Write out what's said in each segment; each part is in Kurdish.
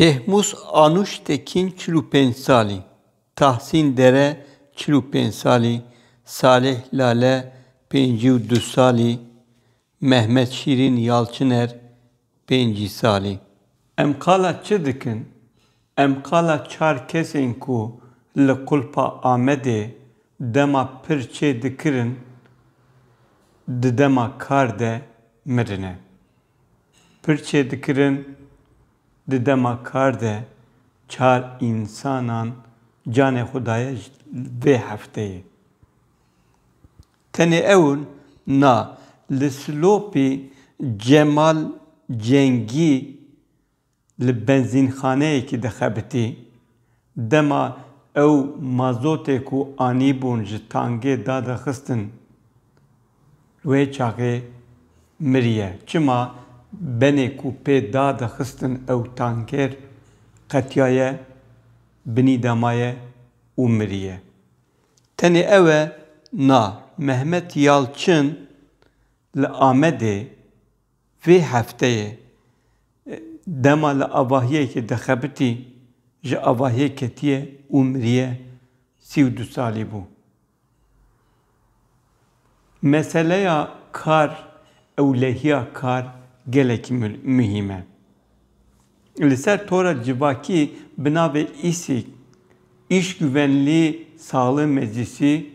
Şehmus Anuş Tekin çil û pênc salî, Tahsîn Dere çil û pênc salî, Salih Lale pêncî û du salî, Mehmet Şîrîn Yalçiner pêncî salî. Em qala çi dikin? Em qala çar kesên ku li Qulpa Amedê dema pir çê dikirin di dema kar de mirine. Pir çê dikirin di dema kar de çar însanan canê xwe daye ji vê hefteyê. Tenê ew na, li Silopê Cemal Cengî li benzînxaneyekî dixebitî. Dema ew mazotê ku anîbûn ji tangê dadixistin wê çaxê miriye. Çima benê ku pê dadixistin ew tanker qetiyaye, binî damaye û miriye. Tenê ew e na, Mehmet Yalçin li Amedê vê hefteyê dema li avahiyekê dixebitî ji avahiyê ketiye û miriye, sî û du salî bû. Meseleya kar, ewlehiya kar gelekî muhîm e. Li ser tora civakî bi navê îsîg, Îşgüvenlî Saxlê Meclîsî,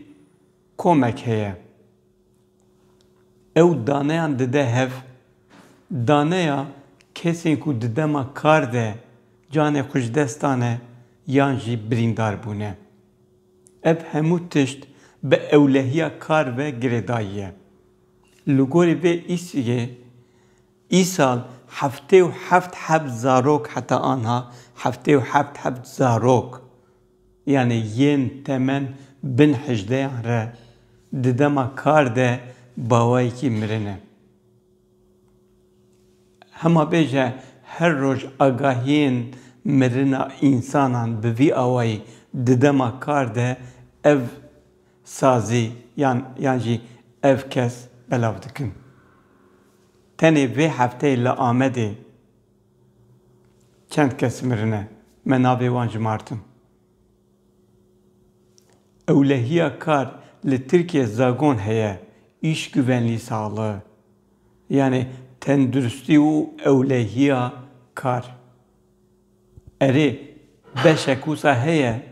komek heye. Ew daneyan dide hev. Daneya kesên ku di dema kar de canê xwe ji dest dane yan jî birîndar bûne. Ev hemû tişt bi ewlehiya kar ve girêdayî ye. Li gorî vê îsrgê îsal heftê û heft heb zarok heta anha heftê û heft heb zarok yanê yên temen bin hejdeyan re di dema kar de bawayekî mirine. Hema bêje her roj agahiyên mirina însanan bi vî awayî di dema kar de ev sazî yan yan jî ev kes belav dikin. Tenê vê hefteyê li Amedê çend kes mirine me navê wan jimartin. Ewlehiya kar li Tirkiye zagon heye, îşguvenlî saxlığ. Yanê tenduristî û ewlehiya kar. Erê beşek wisa heye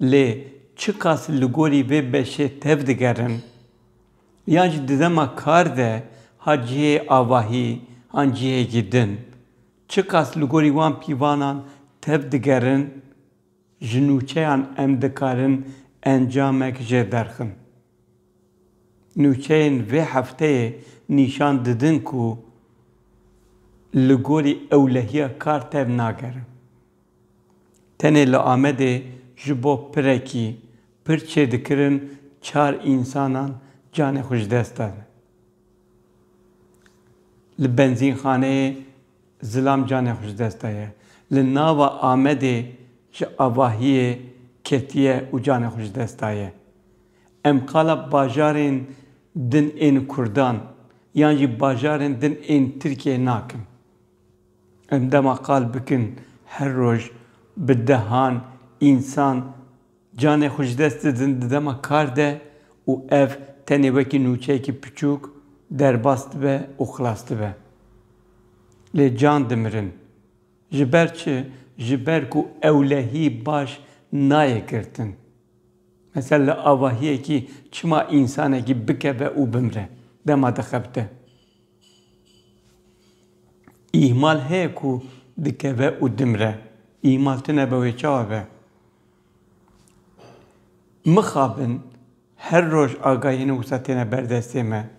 lê çiqas li gorî vê beşê tev digerin yan jî di dema kar de ha cihê avahî yan cihêkî din Çiqas li gorî wan pîvanan tev digerin, ji nûçeyan em dikarin encamek jê derxin. Nûçeyên vê hefteyê nîşan didin ku li gorî ewlehiya kar tev nagerin. Tenê li Amedê ji bo pirekî pir çêdikirin çar însanan canê xwe ji dest dane. Li benzînxaneyê zilam canê xwe ji dest daye. Li nava Amedê ji avahiyê ketiye û canê xwe ji dest daye. Em qala bajarên din ên Kurdan yan jî bajarên din ên Tirkiyeyê nakin. Em dema qal bikin her roj bi dehan însan Canê xwe ji dest didin di dema kar de û ev tenê wekî nûçeyekî piçûk derbas dibe û xilas dibe. Lê can dimirin. Ji ber çi? Ji ber ku ewlehî baş nayê girtin. Mesela li avahiyekî çima însanekî bikeve û bimire dema dixebite? Îhmal heye ku dikeve û dimire. Îhmal tune be wê çawa be? Mixabin, her roj agahiyên wisa têne ber destê me.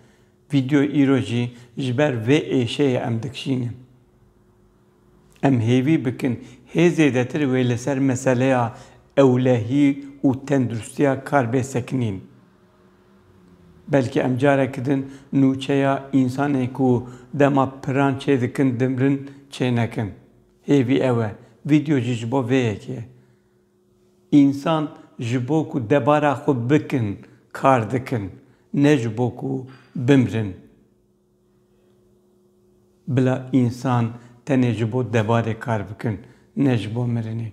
Vîdeo îro jî ji ber vê êşeyê em dikşînin. Em hêvî bikin hê zêdetir wê li ser meseleya ewlehî û tendirustiya kar bê sekinîn. Belkî em careke din nûçeya însanên ku dema piran çêdikin dimrin çênekin. Hêvî ew e, vîdeo jî ji bo vê yekê ye. Însan ji bo ku debara xwe bikin kar dikin, ne ji bo ku bimrin. Bila însan tenê ji bo debarê kar bikin, ne ji bo mirinê.